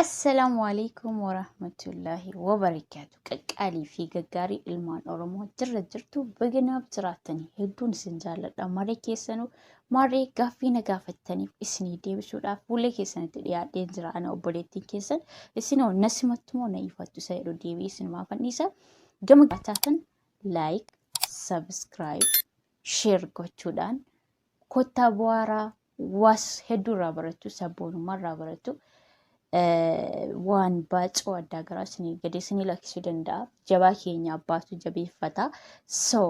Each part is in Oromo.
Assalaamu alaikum warahmatullaahi wabarakaatu. Qaqqaalii fi gaggaarii ilmaan Oromoo jirra jirtu baganaaf jiraatanii hedduun isin jaalladha. Maree keessanuu maree gaaffii na gaafattaniif isinii deebisuudhaaf fuula keessanitti dhiyaadheen jira. Ana obboleettiin keessan isinoo na simattumoo na ifattu isa jedhu deebii isinumaa fanniisa. Gama gaataatan laayik, sabiskiraayib, sheer gochuudhaan kottaa bu'aaraa was hedduu irraa barattu sabboonummaa irraa barattu waan baacoo addaa garaa isinii gadee isinii lakkisuu danda'a jabaa keenya abbaatu jabeeffata so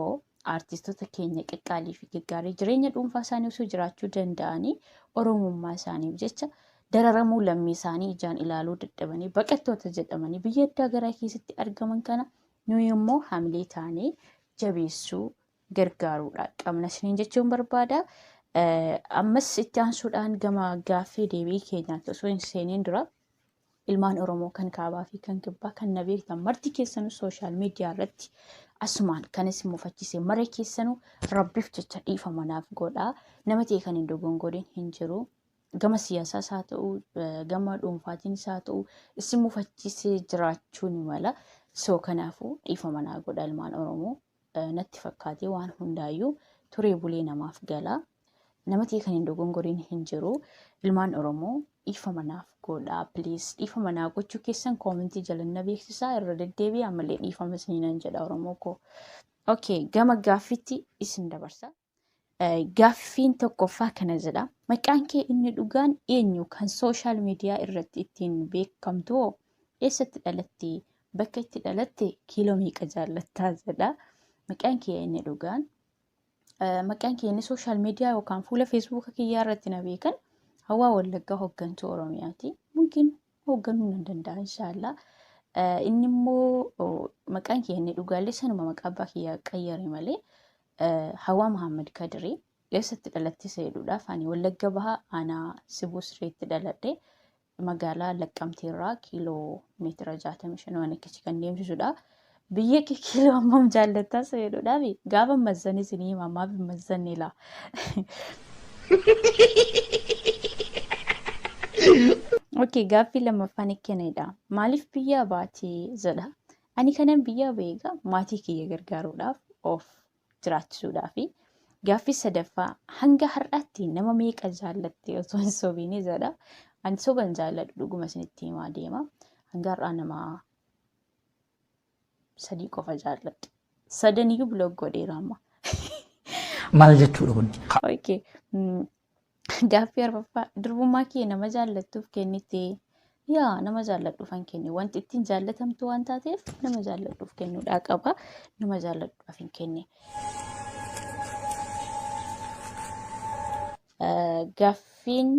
artistoota keenya qaqqaalii fi gaggaarii jireenya dhuunfaa isaanii osoo jiraachuu danda'anii oromummaa isaaniif jecha dararamuu lammii isaanii ijaan ilaaluu dadhabanii baqattoota jedhamanii biyya addaa garaa keessatti argaman kana nuyi immoo hamilee taanee jabeessuu gargaaruudha qabna isiniin jechuun barbaada. Ammas itti aansuudhaan gama gaaffii deebii keenyaatti osoo hin seeniin dura ilmaan Oromoo kan kaabaa fi kan kibbaa kan na beektan marti keessanuu sooshaal miidiyaa irratti asumaan kan isin mufachiise mara keessanuu rabbiif jecha dhiifama naaf godhaa nama ta'e kan hin dogongoodin hin jiru. Gama siyaasaas haa ta'u gama dhuunfaatiinis haa ta'u isin mufachiisee jiraachuu ni mala. So kanaafuu dhiifama naa godha ilmaan Oromoo natti fakkaatee waan hundaayyuu turee bulee namaaf gala. Namatii kan hin dogongoriin hin jiru. Ilmaan Oromoo dhiifama naaf godhaa please. Dhiifama naa gochuu keessan koomentii jalanna beeksisaa irra deddeebi'aa malee dhiifama isiniinan jedha Oromoo koo. Okay, gama gaaffiitti isin dabarsa. Gaaffiin tokkoffaa kana jedha. Maqaan kee inni dhugaan eenyu kan sooshaal miidiyaa irratti ittiin beekamtu hoo eessatti dhalatte? Bakka itti dhalatte kiiloo meeqa jaallattaa jedha. Maqaan kee inni dhugaan eh, maqaan kee inni sooshaal miidiyaa yookaan fuula feesbuuka kiyyaa irratti na beekan hawaa wallaggaa hooggantuu Oromiyaati. Mungkin hoogganuu nan danda'a inshaallah. Eh, Inni immoo oh, maqaan kee inni dhugaallee sanuma maqaa abbaa kiyyaa qayyare malee Hawaa Muhammad Kadiri eessatti dhalatte isa jedhuudhaaf ani Wallagga Bahaa aanaa Sibuu Sireetti dhaladhe magaalaa Laqqamtee irraa kiiloo meetira 65 waan akkasii kan deemsisudha. Biyya kee kiiloo hammam jaallattaa isa jedhuudhaaf gaafa mazzan isin hima maaf hin mazzanne laa. Okey gaaffii lammaffaan ikkenedha. Maaliif biyyaa baatee jedha. Ani kanan biyyaa ba'e egaa maatii kiyya gargaaruudhaaf of jiraachisuudhaafi. Gaaffii sadaffaa hanga har'aatti nama meeqa jaallatte osoo hin sobiinii jedha. Ani soba hin jaalladhu dhuguma isinitti himaa deema. Hanga har'aa nama sadii qofa jaalladhe. Sadaniyyuu biloog godheera amma. Maal jechuudha kun? Okay. Gaaffii arfaffaa durbummaa kee nama jaallattuuf kennite yaa nama jaalladhuufan kenne wanti ittiin jaallatamtu waan taateef nama jaalladhuuf kennuudhaa qaba nama jaalladhuudhaaf hin kenne. Gaaffiin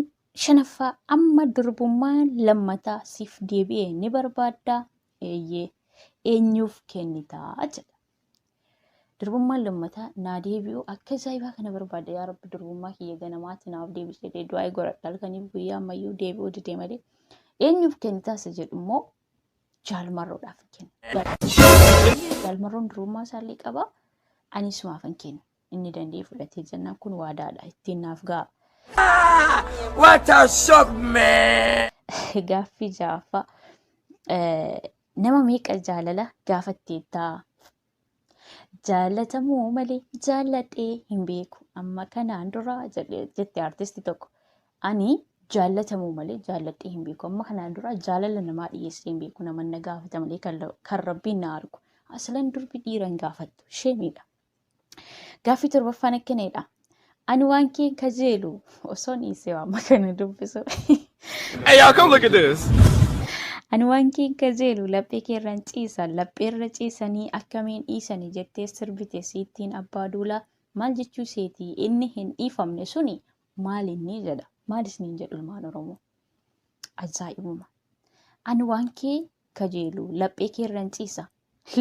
shanaffaa amma durbummaa lammataa siif deebi'e ni barbaaddaa eeyyee eenyuuf kennitaa jedha. Durbummaan lammataa naa deebi'u akka zaayibaa kana barbaada yaa rabbi durbummaa kiyya ganamaatti naaf deebi jedhee du'aa godhadha halkaniif guyyaa ammayyuu deebi'uu didee malee eenyuuf kennitaasa jedhu immoo jaalmarroodhaaf kenna. Jaalmarroon durbummaa isaallee qaba anis maafan kenna. Inni danda'ee fudhatee jennaan kun waadaadha ittiin naaf ga'a. What a shock, man! Gaaffii ja'affaa eh, nama meeqa jaalala gaafatteettaa? Jaalatamuu malee jaalladhee hin beeku amma kanaan dura jedhe- jette artisti tokko. Ani jaalatamuu malee jaalladhee hin beeku amma kanaan dura jaalala namaa dhiyeessee hin beeku nama na gaafata malee kan la- kan rabbiin na argu. Aslan durbi dhiira hin gaafattu sheemiidha. Gaaffii torbaffaan akkanadha. Ani waan keen kajeelu osoo dhiisee amma kana dubbisu. Hey, y'all, come look at this. Ani waan keen kajeelu laphee keerran ciisa lapheerra ciisanii akkamiin dhiisanii jettee sirbite siittiin abbaa duula maal jechuu seetii inni hin dhiifamne suni maal inni jedha maal isiniin jedhu ilmaan oromoo ajaa'ibuma ani waan kee kajeelu laphee keerran ciisa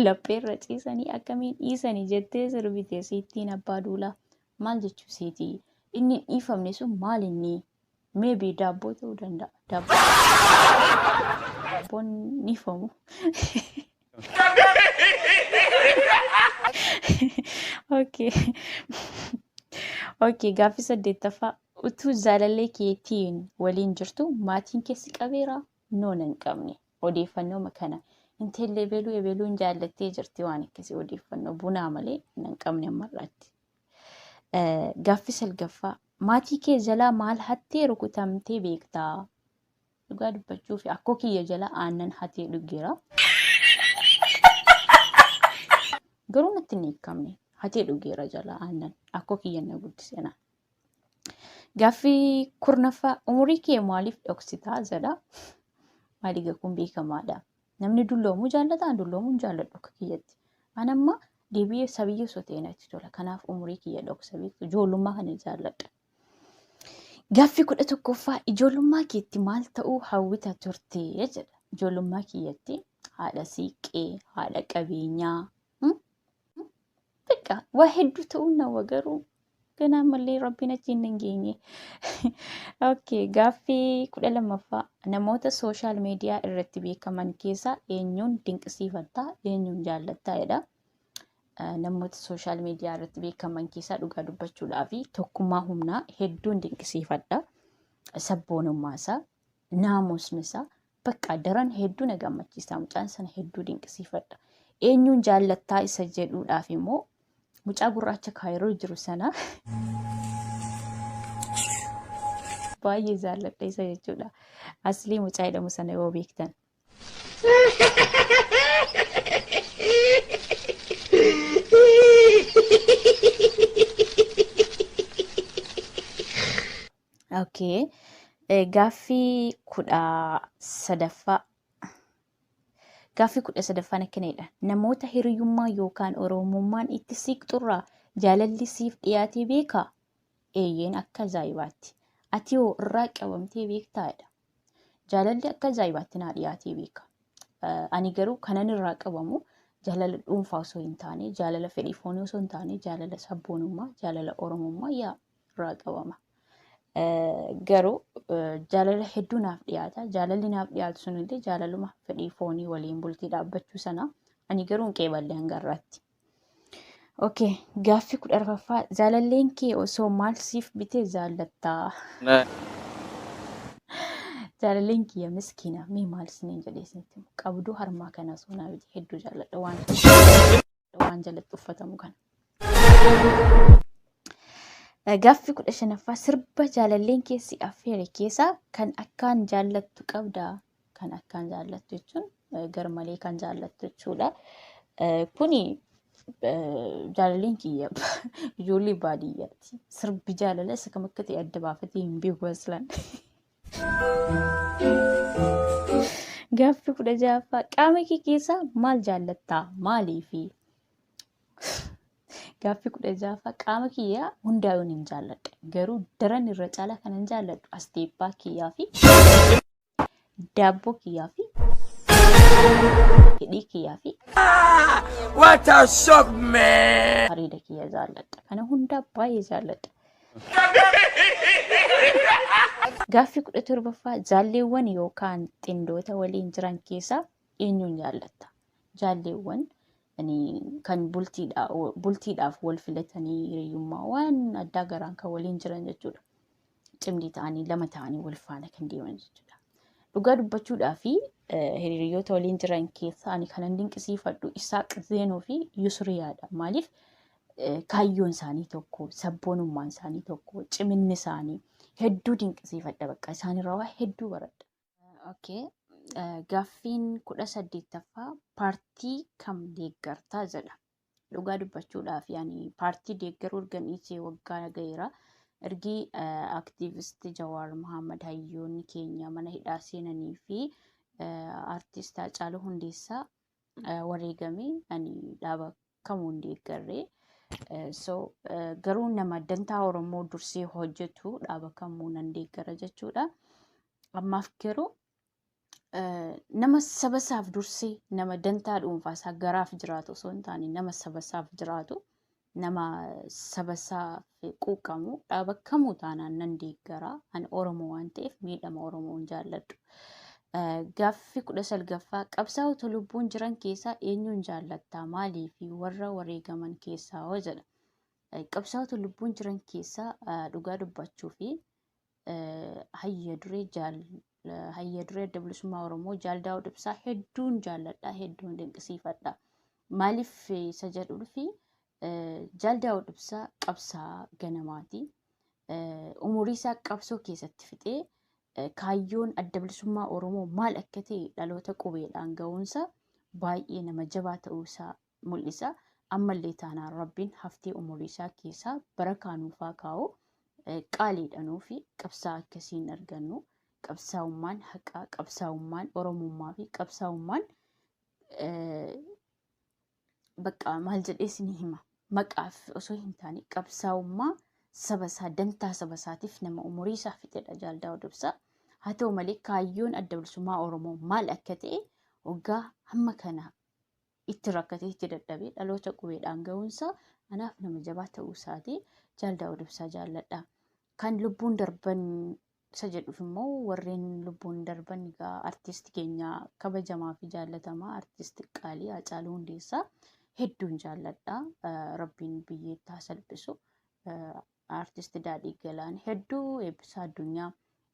Lapheerra ciisanii akkamiin dhiisani jettee sirbite siittiin abbaa duulaa. Maal jechuu siiti? Inni hin dhiifamne sun maal inni? Maybe daabboo ta'uu danda'a. Daabboo daabboon hin dhiifamu. Okay. Okay, gaaffii saddeettaffaa. Utuu jaalallee keetiin waliin jirtu maatiin kee si qabeera? Noo nan qabne. Odeeffannooma kana intalli ebeluu ebeluun jaallattee jirti waan akkasii odeeffannoo bunaa malee nan qabne ammarraatti. Gaaffi salgaffaa maatii kee jalaa maal hattee rukutamtee beektaa? Dhugaa dubbachuu fi akkoo kiyya jalaa aannan hatee dhugeera. Garuu natti hin hiikamne hatee dhugeera jalaa aannan akkoo kiyya na guddise naan. Gaaffii kurnaffaa umurii kee maaliif dhoksitaa jedha. Maaliiga kun beekamaadha. Namni dulloomuu jaallata, an dulloomuu hin jaalladhu akka kiyyatti. An amma deebi'ee sabiyyee sotee natti tola. Kanaaf umurii kiyya dhoksa beektu ijoollummaa kana jaalladha. Gaaffii kudha tokkoffaa ijoollummaa keetti maal ta'uu hawwita turte jedha. Ijoollummaa kiyyatti haadha siiqqee, haadha qabeenyaa, Bakka waa hedduu ta'uu nawa garuu ganaa malee rabbiin achi hin geenye. Okay, gaaffii kudha lammaffaa namoota sooshaal miidiyaa irratti beekaman keessaa eenyuun dinqisiifattaa eenyuun jaallattaa jedha. Eh, Namoota sooshaal miidiyaa irratti beekaman keessaa dhugaa dubbachuudhaa fi tokkummaa humnaa hedduun dinqisiifadha. Sabboonummaa isaa, naamusni isaa, Bakka daran hedduu na gammachiisa. Mucaan sana hedduu dinqisiifadha. Eenyuun jaallattaa isa jedhuudhaaf immoo mucaa gurraacha kaayiroo jiru sana baay'ee jaalladha isa jechuudha. Aslii mucaa jedhamu sana yoo beektan. Okay. Eh, Gaaffii kudha sadaffaa. Gaaffii kudha sadaffaan akkana jedha. Namoota hiriyummaa yookaan oromummaan itti siiqxurraa jaalalli siif dhiyaatee beekaa? Eeyyeen akka ajaa'ibaatti. Ati hoo irraa qabamtee beektaa jedha. Jaalalli akka ajaa'ibaatti naa dhiyaatee beeka. Eh, Ani garuu kanan irraa qabamu jaalala dhuunfaa osoo hin taane, jaalala fedhii foonii osoo hin taane, jaalala sabboonummaa, jaalala oromummaa yaa irraa qabama. Garuu jaalala hedduu naaf dhiyaata. Jaalalli naaf dhiyaatu sunillee jaalaluma fedhii foonii waliin bultii dhaabbachuu sana ani garuu hin qeeballe hanga irraatti. Okay, gaaffii kudha arfaffaa jaalalleen kee osoo maal siif bitee jaallattaa? Jaalalleen kiyya miskiina mee maal isiniin jedhee isinitti qabduu harmaa kana osoo naa bitee hedduu jaalladha waan waan jalatti uffatamu kana. Gaffi kudha shanaffaa sirba jaalalleen keessi affeere keessaa kan akkaan jaallattu qabda. Kan akkaan jaallattu jechuun garmalee kan jaallattu jechuudha. Kuni jaalalleen kiyya ijoollee baadiyyaati. Sirbi jaalala isa kam akka ta'e adda baafatee hin beeku aslan. Gaaffi kudha ja'affaa qaama kee keessaa maal jaallattaa? Maaliifi? Gaaffi kudha ja'affaa qaama kiyyaa hundaa'uun hin jaalladha. Garuu daran irra caalaa kan hin jaalladhu asteeppaa kiyyaa fi daabboo kiyyaa fi hidhii kiyyaa fi What a shock, man! areeda kiyya jaalladha. Kana hundaa baay'ee jaalladha. Gaaffii 17ffaa Jaalleewwan yookaan xindoota waliin jiran keessaa eenyuun jaallatta? Jaalleewwan ani kan bultiidha- bultiidhaaf wal filatanii hiriyyummaa waan addaa garaan kan waliin jiran jechuudha. Cimdii ta'anii lama ta'anii wal faana kan deeman jechuudha. Dhugaa dubbachuudhaa fi eh, hiriyoota waliin jiran keessaa ani kanan dinqisiifadhu Isaaq Zeenoo fi Yusuriyaadha. Maaliif? kaayyoon isaanii tokko, sabboonummaan isaanii tokko, ciminni isaanii hedduu dinqisiifadha bakka isaanirraa waa hedduu baradha. Okay. Gaaffiin kudha saddeettaffaa paartii kam deeggartaa jedha. Dhugaa dubbachuudhaaf yaani paartii deeggaruu ergan dhiisee waggaa gaheera. Ergi aktiivist Jawaar Mohaammed hayyoonni keenya mana hidhaa seenanii fi artist Haacaaluu Hundeessaa wareegamee ani dhaaba kamuu hin deeggarre. Eh, So eh, garuu nama dantaa Oromoo dursee hojjetu dhaaba kamuu nan deeggara jechuudha. Ammaaf garuu eh, nama saba isaaf dursee nama dantaa dhuunfaa isaa garaaf jiraatu osoo hin taane nama saba isaaf jiraatu nama saba isaaf quuqqamu dhaaba kamuu taanaan nan deeggara. Ani Oromoo waan ta'eef miidhama Oromoo hin jaalladhu. Gaaffi kudha salgaffaa qabsaa'ota lubbuun jiran keessaa eenyuun jaallattaa maalii fi warra wareegaman keessaa hoo jedha. Qabsaa'ota lubbuun jiran keessaa dhugaa dubbachuu fi hayya duree jaal hayya duree adda bilisummaa Oromoo jaal Daawud Ibsaa hedduun jaalladha hedduun dinqisiifadha. Maaliif isa jedhuufi jaal Daawud Ibsaa qabsaa ganamaati. Umurii isaa qabsoo keessatti fixee kaayyoon adda bilisummaa Oromoo maal akka ta'e dhaloota qubeedhaan ga'uunsa baay'ee nama jabaa ta'uu isaa mul'isa. Ammallee taanaan Rabbiin haftee umurii isaa keessaa barakaa nuuf haa kaa'u. Qaaliidha nuufi qabsaa akkasii hin argannu. Qabsaa'ummaan haqaa, qabsaa'ummaan Oromummaa fi qabsaa'ummaan bakka maal jedhee isin hima. Maqaaf osoo hin taane qabsaa'ummaa saba isaa dantaa saba isaatiif nama umurii isaa fixedha Jaal Daawud Ibsaa. Haa ta'u malee kaayyoon adda bilisummaa Oromoo maal akka ta'e waggaa hamma kana itti rakkatee itti dadhabee dhaloota qubeedhaan ga'uunsaa anaaf nama jabaa ta'uu isaati jaal daawud ibsaa jaalladha kan lubbuun darban isa jedhuuf immoo warreen lubbuun darban egaa artisti keenya kabajamaa fi jaallatamaa artisti qaalii Haacaaluu Hundeessaa hedduun jaalladha rabbiin biyyeettaa salphisu Artist Daadhii Galaan hedduu eebbisaa addunyaa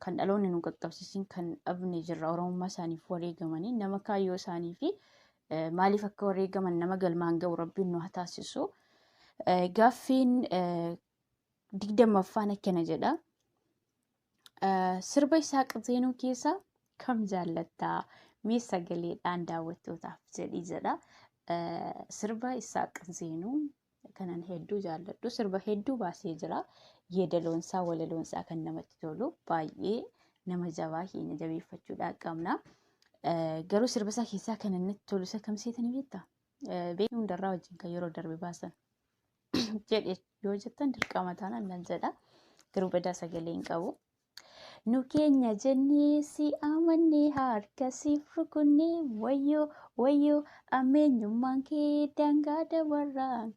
kan dhaloonni nu qaqqabsiisin kan dhabne jirra oromummaa isaaniif wareegamanii nama kaayyoo isaanii fi eh, maaliif akka wareegaman nama galmaan ga'u rabbiin nu haa taasisu. Eh, Gaaffiin eh, digdammaffaan akkana jedha. Eh, Sirba isaa qizeenuu keessaa kam jaallattaa? Mee sagaleedhaan daawwattootaaf jedhii jedha. Eh, Sirba isaa qizeenuu kanan hedduu jaalladhu. Sirba hedduu baasee jira. Yeedaloonsaa, walaloonsaa kan namatti tolu baay'ee nama jabaa keenya jabeeffachuudhaan qabna. Eh, Garuu sirba isaa keessaa kanan natti tolu isa kam seetanii beektaa? beekni hundarraa wajjin kan yeroo darbe baasan jedhe yoo jettan dirqama taanaan nan jedha garuu badaa sagalee hin qabu. Nu keenya jennee si amannee harka siif rukunnee wayyoo wayyoo ammeenyummaan kee daangaa dabarraan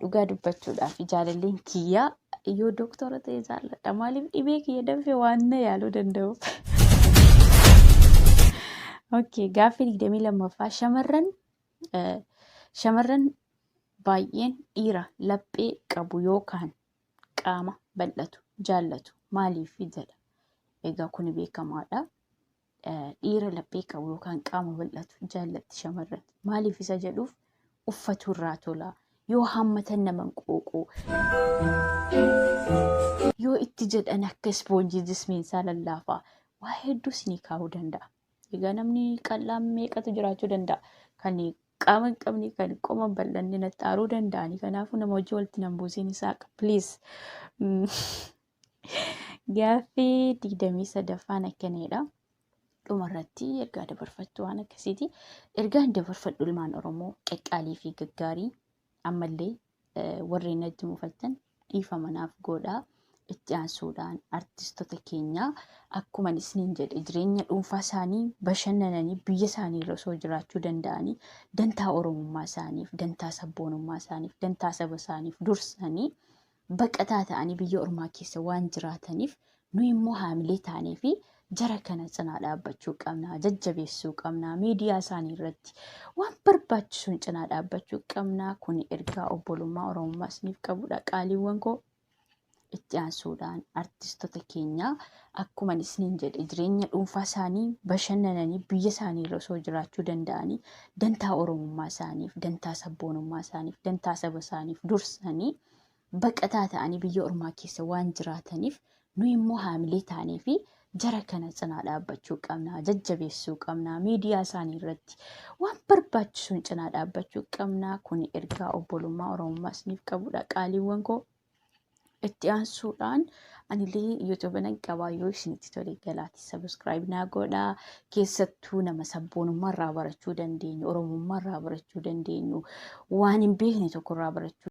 Dhugaa dubbachuudhaaf jaalalleen kiyyaa yoo dooktora ta'e jaalladha. Maaliif dhibee kiyya danfee waan na yaaluu danda'uuf. Okay, gaaffii digdamii lammaffaa shamarran eh, shamarran baay'een dhiira laphee qabu yookaan qaama bal'atu jaallatu maaliif jedha. Egaa kuni beekamaadha. dhiira laphee qabu yookaan qaama bal'atu jaallatti shamarran. Maaliif isa jedhuuf uffatu irraa tola. Yoo hammatan nama hin qooqu. Yoo itti jedhan akka ispoonjii jismiin isaa lallaafaa waa hedduu isinii kaa'uu danda'a. Egaa namni qal'aan meeqatu jiraachuu danda'a. Kan qaama hin qabne kan qoma hin bal'anne naxxaaruu danda'ani. Kanaafuu nama wajjin walitti nan buusiin isaa please. Gaaffii digdamii sadaffaan akkanidha. Dhumarratti ergaa dabarfattu waan akkasiiti. Ergaan dabarfadhu ilmaan Oromoo qaqqaalii fi gaggaarii ammallee eh, warreen natti mufattan dhiifama naaf godhaa. Itti aansuudhaan artistoota keenya akkuma isiniin jedhe jireenya dhuunfaa isaanii bashannananii biyya isaanii irra osoo jiraachuu danda'anii dantaa Oromummaa isaaniif, dantaa sabboonummaa isaaniif, dantaa saba isaaniif dursanii baqataa ta'anii biyya ormaa keessa waan jiraataniif nu immoo haamilee taanee fi jara kana cinaa dhaabbachuu qabna jajjabeessuu qabna miidiyaa isaanii irratti waan barbaachisuun cinaa dhaabbachuu qabna kun ergaa obbolummaa oromummaa isiniif qabudha qaaliiwwan koo itti aansuudhaan artistoota keenyaa akkuma isiniin jedhe jireenya dhuunfaa isaanii bashannananii biyya isaanii irra osoo jiraachuu danda'anii dantaa oromummaa isaaniif dantaa sabboonummaa isaaniif dantaa saba isaaniif dursanii baqataa ta'anii biyya ormaa keessa waan jiraataniif nu immoo haamilee taanee fi jara kana cinaa dhaabbachuu qabna, jajjabeessuu qabna, miidiyaa isaanii irratti waan barbaachisuun cinaa dhaabbachuu qabna. Kun ergaa obbolummaa Oromummaa isiniif qabudha qaaliiwwan koo. Itti aansuudhaan anilee YouTube nan qabaa yoo isinitti tole galaati subscribe naa godhaa keessattuu nama sabboonummaa irraa barachuu dandeenyu oromummaa irraa barachuu dandeenyu waan hin beekne tokko irraa barachuu